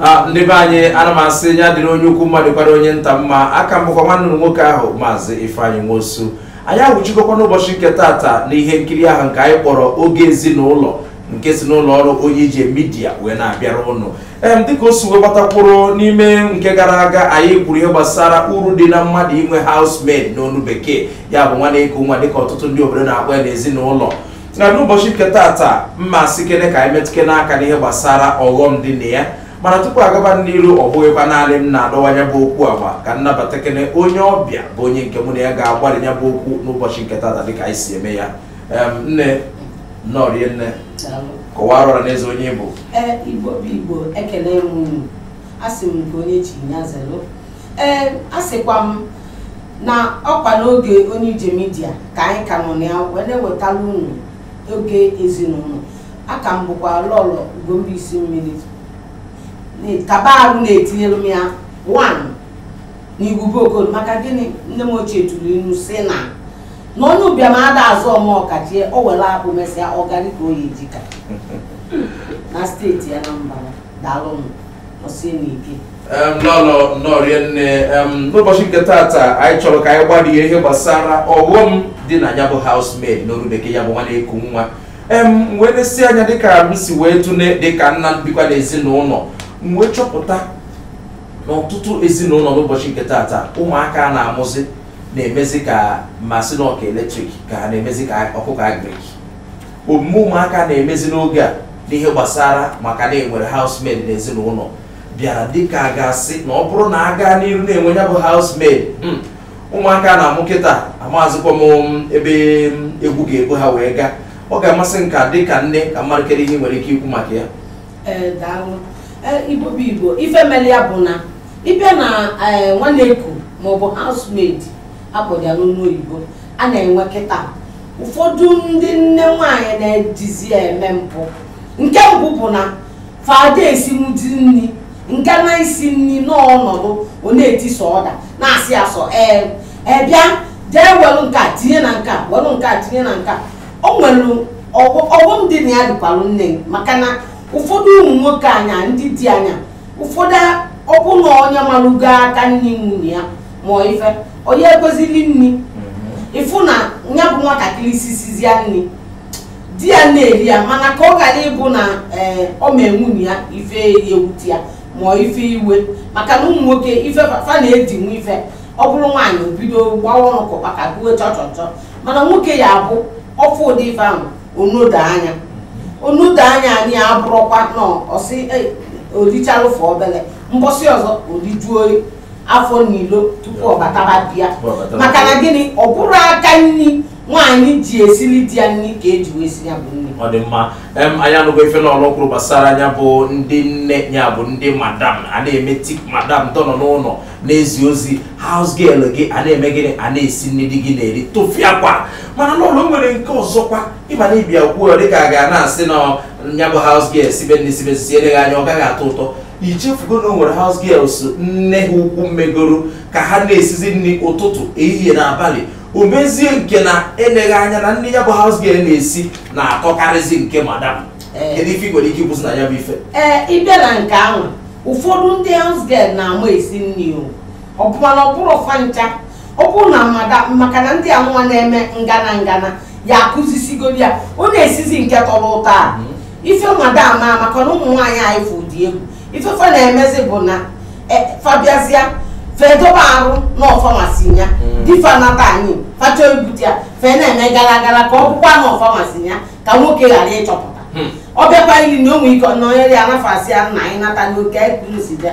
a ndị be anyị ana m asị ya dịrị onye ukwu mma dịkwara onye nta mma aka m bụkwa nwanne ụnụ nwoke ahụ maazị ifeanyị nwosu anyị awụchikọkwa n'ụbọchị nke tata na ihe nkiri ahụ nke anyị kpọrọ oge ezinụlọ nke si n'ụlọ ọrụ onye ije midia wee na-abịara ụnụ em dịka o si wee gbata kwụrụ n'ime nke gara aga anyị kwuru ihe gbasara uru dị na mmadụ inwe housemaid n'onu bekee ya bụ nwa na-eku nwa dịka ọtụtụ ndị obodo na-akpọ ya n'ezinụlọ na n'ụbọchị nke tata mụ asịkene ka anyị metụkene aka n'ihe gbasara ọghọm dị na ya mana tupu a gaba n'iru ọ bụghịkwa naanị m na-adọwa ya bụ okwu agba ka m nabatakene onye ọbịa bụ onye nke mụ na ya ga-agbarị ya bụ okwu n'ụbọchị nke tata dịka anyị si eme ya Em, nne nọrie nne Daalụ. kọwara ọra na eze onye ị bụ Ee, Igbo bụ Igbo ekele m unu. Asị m nke onye chi ya zelu ee asịkwa m na ọkwa n'oge onye ije midia ka anyị ka nọ na ya wee na-ewetara unu oge ezinụlọ aka m bụkwa lọlọ ugombaisi mmiri kaba arụ na-etinyere m ya wan na igwube okoro maka gịnị nne m ochie tụrụ inu sị na na onye ụbịam ada aza omeọkachie o were akpụ mesịa ọgarị ka o yi jika na steeti anambra daalụ m lọlọ nọrie nne n'ụbọchị nke tata anyị chọrọ ka anyị gbarịa ihe gbasara ọghọm dị na ya bụ housemaid n'olu bekee ya bụ nwa na-eku nwa m wee nesie anya dịka m si wee tụne dịka nna bikwa n'ezinụlọ m wee chọpụta n'ọtụtụ ezinụlọ n'ụbọchị nke tata ụmụaka a na-amụzi na-emezi ka m sị n'ọka eletrik ka ha na-emezi ka ọkụkọ agrik omume ụmụaka na-emezi n'oge a n'ihe gbasara maka na e nwere housemaid n'ezinụlọ bịara dịka a ga-asị na ọ bụrụ na a gaa n'iru na-enwe ya bụ housemaid mm, ụmụaka a na-amụ kịta amazịkwa m mm, ebe mm, egwu ga-ebu ha wee gaa ọ ga-amasị m ka dịka nne ka m mara kedu ihe ị nwere ike ikwu maka ya Ee, daalụ Ee, igbo bụ igbo ife mere ya bụ na ị bịa na ee, nwa na-eku maọbụ housemaid a kpọrọ ya n'olu oyibo a na-enwe kịta ụfọdụ ndị nne nwaanyị na-ejizi eme mpụ nke mbụ bụ na fa ada esinwuzi nri nke na-esi nri n'ọnọdụ ọ na-eti sọ order na-asị ya sọ ee ee bịa jee welụ nke a tinye na nke a welụ nke a tinye na nke a o nwere ọghọ- ọghọm dị na ya dịkwalụ nne m, maka na ụfọdụ ụmụ nwoke anyị ndị di anyị ụfọdụ ọbụna onye malụgo aka nri nwunye ya ma ife onye ekwezili nri ịfụ na ya bụ nwatakịrị sisizie nri di ya na-eri ya mana ka ọ ghara ịbụ na ee ọ ma nwunye ya ife ewute ya ma ọ ife iwe maka na ụmụ nwoke ife fa fa na-edinwu ife ọ bụrụ nwaanyị o bido gbawa ọnụ ka ụkpaka gbuo chọchọchọ mana nwoke ya abụ ọ fụ ụdị ife ahụ o nedo anya o nedo anya anyị abụrụkwa na ọ sị "Ei, o lichalụfụ obele mbọsị ọzọ o lijuo afọ n'ilo tupu ọ bataba be ya maka na gịnị ọ bụrụ aka nri nwaanyị ji esili di ya nri ka eji wee si ya bụ nri ọ dị mma em anyị anụgo ife n'ọlụ kwuru gbasara ya bụ ndị nne ya bụ ndị madam a na-eme thick madam tọnọ n'ụlọ na-ezi ozi house girl gị a na-eme gịnị a na-esi nri di gị na-eri tụfịakwa mana n'ụlọ nwere nke ọzọkwa ị ma na ị bịa kwuo dịka a ga na-asị na ya bụ house girl sibe nri sibe sisi eleghị anya ọ gaghị atọ ụtọ i chefugo na o nwere house girls nne ha ukwu megoro ka ha na-esizi nri ụtụtụ ehihie na abalị o mezie nke na eleghị anya na nri ya bụ house girl na-esi na-atọkarịzi nke madam Ee. kedu ife ị nwere ike ikwuzi na ya bụ ife ee ị bịa na nke ahụ ụfọdụ ndị house girl na-ama esi nri o ọ bụ mana ọ bụrọ fa ncha ọ bụrụ na madam maka na ndị a nwa na-eme ngana ngana ya akụzisigoro ya ọ na-esizi nke tọrọ ụtọ a ife madam maka na ụmụ nwaanyị anyị fụ dị egwu ife fa na-emezi bụ na e, fa bịazia fa edobe arụ na ọ fa na-esi ya di fa nata anyị fa chọọ ibute ya fa ana-eme gara gara ka ọ bụkwa na ọ fa na-esi ya ka nwoke ghara ịchọpụta ọ bịakwa ili na o nwe ike nọnyere ya na fa sị ya nna anyị nata n'oke ekpuru si bịa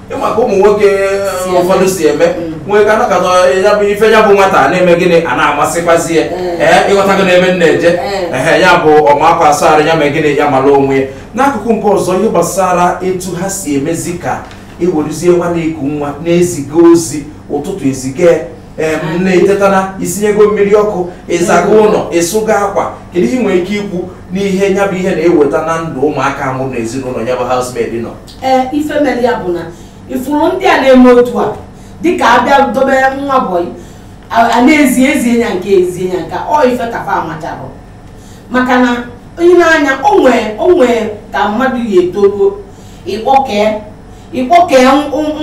ị ma ka ụmụ nwoke um, ụfọdụ si eme mm. nwee ka anakọta ya bụ ife ya bụ nwata na-eme gịnị a na-amasịkwazi ya mm. ee eh, ị ghọta gị n'ebe m na-eje mm. ehe ya bụ ọ makwasara ya mee gịnị ya mara onwe ya n'akụkụ nke ọzọ ihe gbasara etu ha si emezi ka e werezie nwa na-eku nwa na-eziga ozi ụtụtụ eziga na-eteta na i sinyego mmiri ọkụ ị zago ụlọ ị sụgo akwa kedu ihe ị nwere ike ikwu n'ihe ya bụ ihe na-eweta na ndụ ụmụaka a mụrụ na ezinụlọ ya bụ housemaid nọ ee ife mere ya bụ na ị fụrụ ndị a na-eme otu a dịka a bịa dobe nwa bọyị a na-ezi ezie ya nke ezie ya nke a ọ ife ka fa amacha bụ maka na onye na-anya o nwe ka mmadụ ya etoruo ịkpọkee ịkpọkee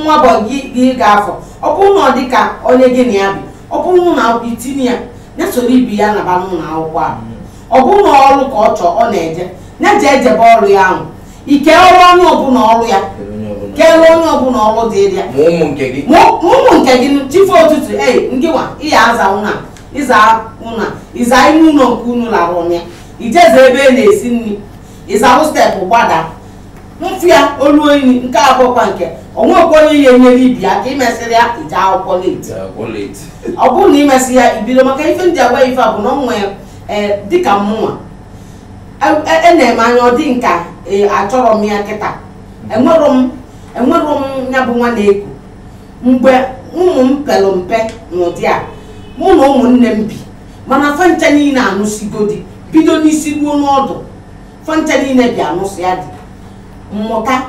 nwa bọyị gị ga-afụ ọ bụrụ na ọ dịka onye gị na ya bi ọ bụrụ na akwụkwọ i tinye ya ya soro ibe ya naba n'ụlọ akwụkwọ a ọ bụrụ na ọrụ ka ọ chọọ ọ na-eje ya ji ejebe ọrụ ya ahụ i kee ọrụ onye ọbụla ọrụ ya kere onye ọbụla ọrụ dịrị ya ma ụmụ nke gị chi fo ụtụtụ ei ngịwa ị ya-aza ụnọ ịza ime ụlọ nke unu lara ụla ya i je zaa ebe a na-esi nri ị zaa step gbada mfu ya olu oyi nke a bụkwa nke onwekwa onye ya enyere gị aka imesịrị ya ije akwụkwọ late ọ bụrụ na imesị ya ibido maka ife ndị anwa ife a bụ na ọ nwee ee dịka mụnwa enere m anya ọ dị m ka achọrọ m ya kịta enwero m enwero m ya bụ nwa na-eku mgbe ụmụ m pere mpe n'ụdị a mụ na ụmụnne m bi mana fa ncha niile anụsigo di bido n'isi ruo n'ọdụ fa ncha niile bịa nụsịa di mụta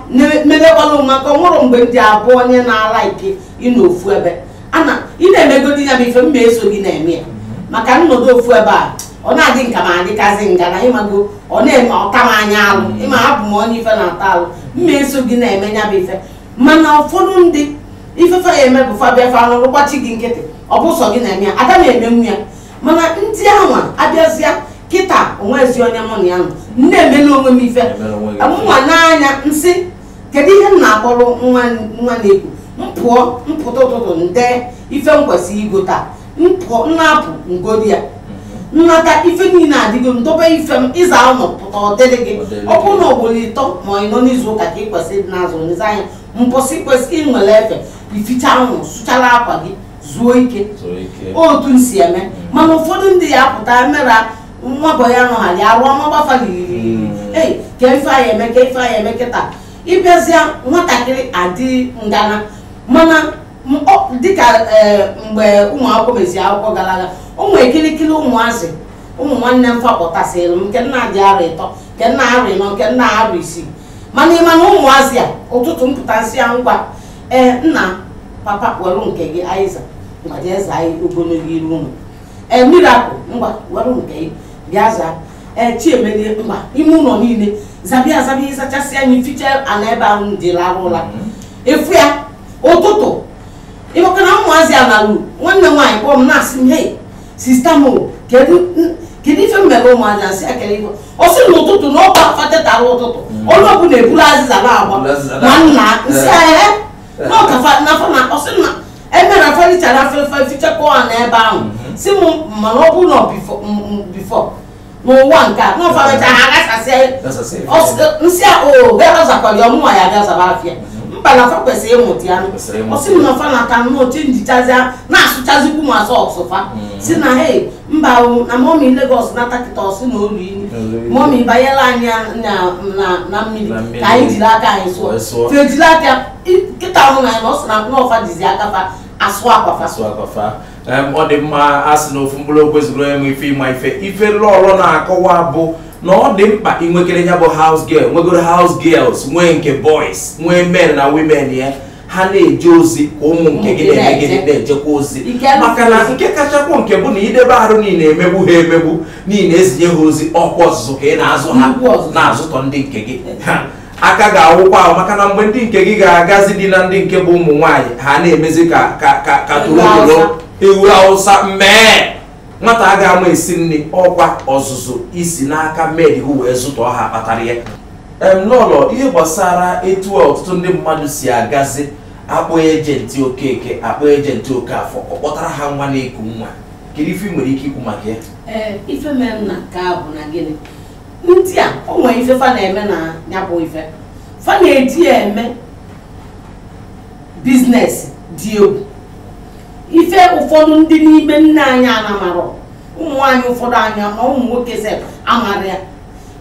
mebekwala maka o nwere mgbe ndị abụọ onye na-ala ike ịnọ ofu ebe ana ị na-emegodi ya bụ ife mma eso gị na-eme ya maka m nọdụ ofu ebe a ọ na-adị m ka m adịkazi ngana ị mago ọ na-eme ọta m anya alụ ịma abụ m onye ife na-ata alụ mma eso gị na-eme ya bụ ife mana ụfọdụ ndị ife fa ya-eme bụ fa bịa fa agbachi gị nkịtị ọ bụ sọ gị na-eme ya ada na-emenwu ya mana ndị anwa abịazịa kịta onwezi onye mụ na ya nọ m na-emele onwe m ife mụnwa n'anya m sị kedu ihe m na-akpọrọ nwa na-eku m pụọ m pụta ụtụtụ m dee ife m kwesịrị igo taa m na-apụ m gote ya m nata ife niile adịgo m dobe ife m ịza ụlọ pụta ọ dịrị gị ọ bụrụ na ugboro ịtọ ma ịnọ n'izu ụka ka ị kwesịrị ịdị n'azụ nlezi anya mbọsị kwesịrị i nwere efe i fichaa ụlọ sụchara akwa gị zuo ike otu m si eme mana ụfọdụ ndị ya pụta mera nwa bọ ya nọghali arụ ọma gba fa hmm. ei ka ife anyị eme kịta ịbịazịa nwatakịrị adị ngana mana dịka eh, mgbe ụmụ akwụkwọ mezi akwụkwọ gara aga ụmụ ekirikiri ụmụazị ụmụ nwanne m fa kpọtasịrị m nke nna dị arọ ịtọ nke nna arọ ịnọ nke nna arọ isii mana ịma na ụmụazị a ụtụtụ m pụta m sị ya ngwa ee nna papa were nke gị azịza ngwa jee zaa anyị ogologo iru ụlọ ee Miracle ngwa were nke gị bịa zaa ee Chiemelie baa ime ụlọ niile zabịa azabịa ị zachasịa anyị fichaa ala ebe ahụ dị lara ụla efu ya ụtụtụ ị makwa na ụmụazị alaru nwanne m nwaanyị kpọọ m na-asị m hei sista m kedu n- kedu ife i mere ụmụazị a m sị ya kedu ife ọ sị n'ụtụtụ na ọkwa fa tetara ụtụtụ onye ọbụla eburu azịza n'aka ma nna m sị ahịa na ọ ka fa nafa na ọ sị na emere fa richara fa fichakwa ala ebe ahụ si m mana ọ bụrụ na ọ before m- m- before n'ụwa nke a n'ụfọdụcha ha aghasasịa nsị a o bịara zakwara ya ọ mụnwa ya bịa zaba afịa mba na fa kwesịrị ịmụta ya ọ sị na fa nata nnọọ chenjichazịa na-asụchazikwu ma sọksụ fa si na he mba na mọmi Lagos nata kịta ọ sị na olu imi mọmi banyela anyị na mmiri ka anyị jiri aka anyị sụọ fa ejiri aka kịta ọnụ na ya na ọ sị na ọ fa jizi aka fa asụ akwa fa Em, ọ dị mma a sị na ofu mkpụrụ okwu ezugoro onye ma ife ịma ife ife Lọlọ na-akọwa bụ na ọ dị mkpa inwekere ya bụ house girl nwegoro house girls nwee nke boys nwee men na women ya ha na-eje ozi ka ụmụ nke gị Ụmụ gị na-eme gịnị na-eje. na-ejekwa ozi Nke a maka na nke kachakwa nke bụ na idebe arụ niile emegbu ha emegbu niile ezinye ha ozi ọkwa ọzụzụ ka ị na-azụ ha Nnukwu ọzụzụ. na-azụtọ ndị nke gị Ha, aka ga-awụkwa ahụ maka na mgbe ndị nke gị ga-agazi di na ndị nke bụ ụmụ nwaanyị ha na-emezi ka ka ka ka torotoro ewu Awụsa mee nwata a ga-ama esi nri ọkwa ọzụzụ i si n'aka med ahụ wee zụtọ ha kpatara ya Lọlọ ihe gbasara etu ọtụtụ ndị mmadụ si agazi akpọ ejenti Okeke akpọ ejenti Okafọ ọ kpọtara ha nwa na-eku nwa kedu ife ị nwere ike ikwu maka ya ee ife mere na nke a bụ na gịnị ndị a o nwere ife fa na-eme na ya bụ ife fa na-eji eme biznes dị egwu ife ụfọdụ ndị n'ime nne anyị anamarọ ụmụ nwaanyị ụfọdụ anyị ma ụmụ nwoke sef amarọ ya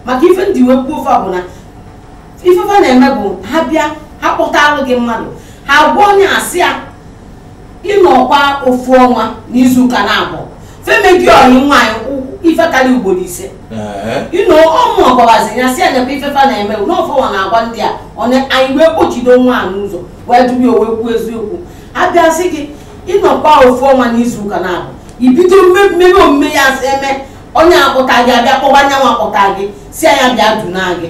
maka ife m ji wee kwuo ife a bụ na ife fa na-eme bụ ha bịa ha kpọtalụ gị mmadụ ha gwa onye a sị ya ị nọkwa ofu ọnwa n'izu ụka n'abụọ fa emego ọyị nwaanyị ife karịa ugboro ise ịnọ ọmụ ọgbabazi ya si anyakwa ife fa na-eme na ọ fanwa na-agwa ndị a onye anyị wee kpọchido nwa a n'ụzọ wee dubi o wee kwuo eziokwu a bịa sị gị ị nọkwa ofu ọnwa n'izu ụka n'abụọ i bido mmemme omume ya eme onye akpụta gị abịa kpọba anyịnwa akpụta gị sị anyị bịa duna gị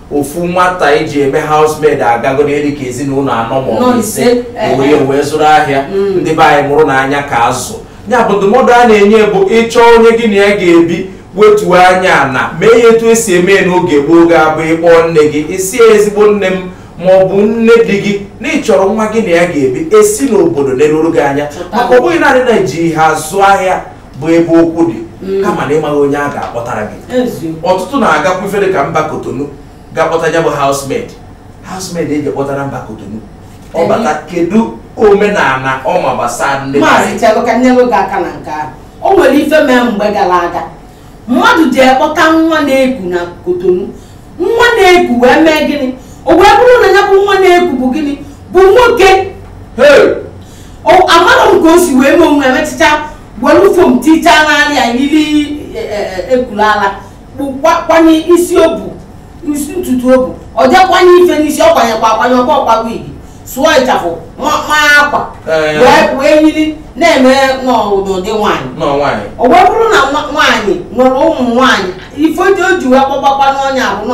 ofu nwata e ji eme housemaid agago n'ihe dị ka ezinụlọ anọ maọbụ ise wee wee zụrụ ahịa mm. ndị be anyị mụrụnụ anya ka azụ ya bụ ndụmọdụ a na-enye bụ ị chọọ onye gị na ya ga-ebi wetuo anya ana mee ya etu esi eme n'oge gboo ga-abụ ị kpọọ nne gị ị sị ezigbo nne m maọbụ nne di gị na ị chọrọ nwa gị na ya ga-ebi e si n'obodo neruru gị anya maka ọ bụghị naanị na e ji ha azụ ahịa bụ ebe okwu dị mm. kama na ị maghị onye a ga-akpọtara gị ọtụtụ na-agakwu ife dị ka mba Kotonu ga-akpọta ya bụ housemaid housemaid eji kpọtara mba Kotonu ọ bata kedu omenala ọ ma gbasara ndị maazị chelụ ka m nyelụ gị aka na nke ahụ o nwere ife mee mgbe gara aga mmadụ jee kpọta nwa na-eku na Kotonu nwa na-eku wee mee gịnị o wee bụrụ na ya bụ nwa na-eku bụ gịnị bụ nwoke amarọ m ka o si wee mee onwe emechicha were foam tichaa n'ala ya yiri e, e, e, ekulu ala kwanye isi obu isi ntutu obu o jee kwanye ife n'isi ọ kwanyekwa akwanye ọkwa ọkwa wigi sụọ ịchafụ maa akwa wee yiri na-eme n'ụdị nwaanyị o wee bụrụ na nwaanyị nwere ụmụ nwaanyị ife o ji wee kpọgbakwa n'ọnya bụ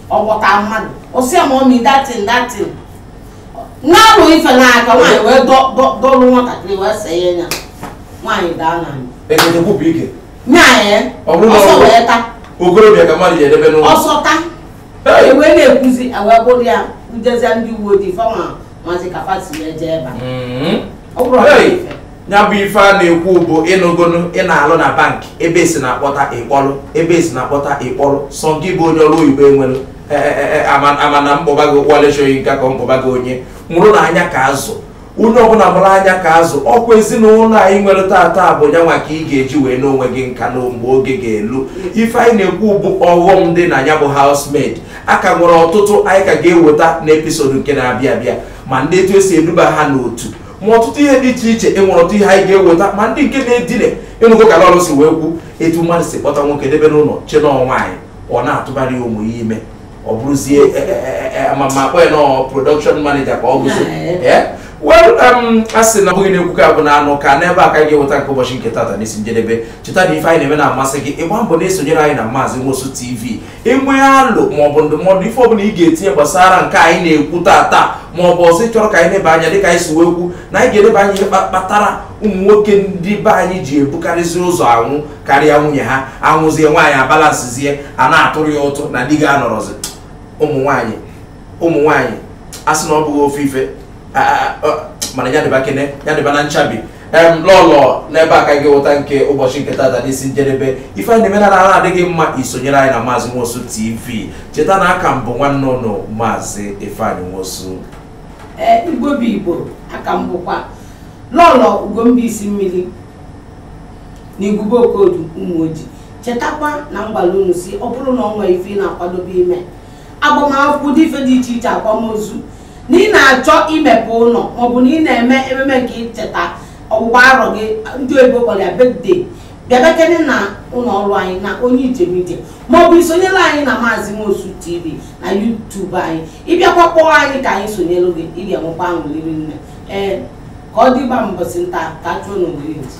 ọ kpọta mmadụ ọ sị ya ma ọ mi datin datin na-alụ ife n'aka nwaanyị wee dọ- dọ- dọlụ nwatakịrị wee see ya nya nwaanyị daa n'ana ekete kwupụ ike nya ya Ọ bụrụ na ọsọ ọ bụ- wee ta okorobịa ka mmadụ ji edebe n'ụlọ ọsọ ta Hey! ewee na-ekwuzi ewee bụrụ ya ejezie ndị uwe ojii fa amazi ka fa si ya jee ebe a. Mhm. ọ bụrụ ọrụ Hey! ife ya bụ ife a na-ekwu bụ ị nụgonu ị na-alụ na bank ebe esi na-akpọta ịkpọlụ ebe esi na-akpọta ịkpọlụ sọ gị bụ onye ọrụ oyibo enwelu e, e, e, ama na mkpọba gị kwaleshọghị nka ka mkpọba gị onye mụrụ na anya ka azụ onye ọbụla mụrụ anya ka azụ ọkwa ezinụlọ anyị nwere tata bụ ya nwa ka ị ga-eji wee n'onwe gị nka na mgbe oge ga-elu ife anyị na-ekwu bụ ọghọm dị na ya bụ housemaid a ka nwere ọtụtụ anyị ka ga-eweta n'episode nke na-abịa abịa ma ndị etu esi eduba ha n'otu ma ọtụtụ ihe dị iche iche e nwere ọtụtụ ihe anyị ga-eweta ma ndị nke na-edine ị nụgo ka lọlọ si wee kwu etu mmadụ si kpọta nwoke debe n'ụlọ chee na ọ nwaanyị ọ na-atụbara ya ụmụ ya ime ọ bụrụzie e, e, e, e, ma m akpọ ya na ọ production manager ka ọ bụzi Yeah. Eh? well um, a sị na ọ bụghị na ekwuka bụ na anụka n'ebe a ka anyị ga-eweta nke ụbọchị nke tata n'isi njedebe cheta na ife anyị na-eme na-amasị gị ị gbaa mbọ na-esonyere anyị na maazị nwosu tv i nwee alo maọbụ ndụmọdụ ife ọbụla ị ga-etinye gbasara nke anyị na-ekwu tata maọbụ ọzọ ị chọrọ ka anyị neba anya dịka anyị si wee kwu na anyị ga-eleba anya ihe kpatara ụmụ nwoke ndị be anyị ji ebukarịzi ụzọ anwụ karịa nwunye ha anwụzie nwaanyị abalansizie a na-atụrụ ya ụtụ na di ga-anọrọzi ụmụ nwaanyị ụmụ nwaanyị a sị na ọ bụghị ofu ife a- a- a- mana ya dịbakene ya dịba na nchabi em lọlọ n'ebe a ka anyị ga-eweta nke ụbọchị nke tata n'isi njedebe ife anyị na-eme na-adị gị mma i sonyere anyị na maazị nwosu tv cheta na a ka m bụ nwanne ụnụ maazị ifeanyị nwosu ee igbo bụ igbo a ka m bụkwa lọlọ ugomba isi mmiri na igwube okodu ụmụoji chetakwa na m gwalụ unu sị ọ bụrụ na ọ nwere ife ị na-akwadobe ime agbamakwụkwọ ụdị ife dị iche iche akwamozu na ị na-achọ imepe ụlọ maọbụ na ị na-eme ememe nke icheta ọgbụgba arọ gị ndị oyibo kpọrọ ya birthday bịabekene na ụlọ ọrụ anyị na onye ijem ije maọbụ i sonyere anyị na maazị nwosu tv na youtube anyị ị bịakwa kpọọ anyị ka anyị sonyere gị ị ga-enwekwa aṅụrị rinne ee ka ọ dịba mbọsị nta ka a chụọ n'owere nchi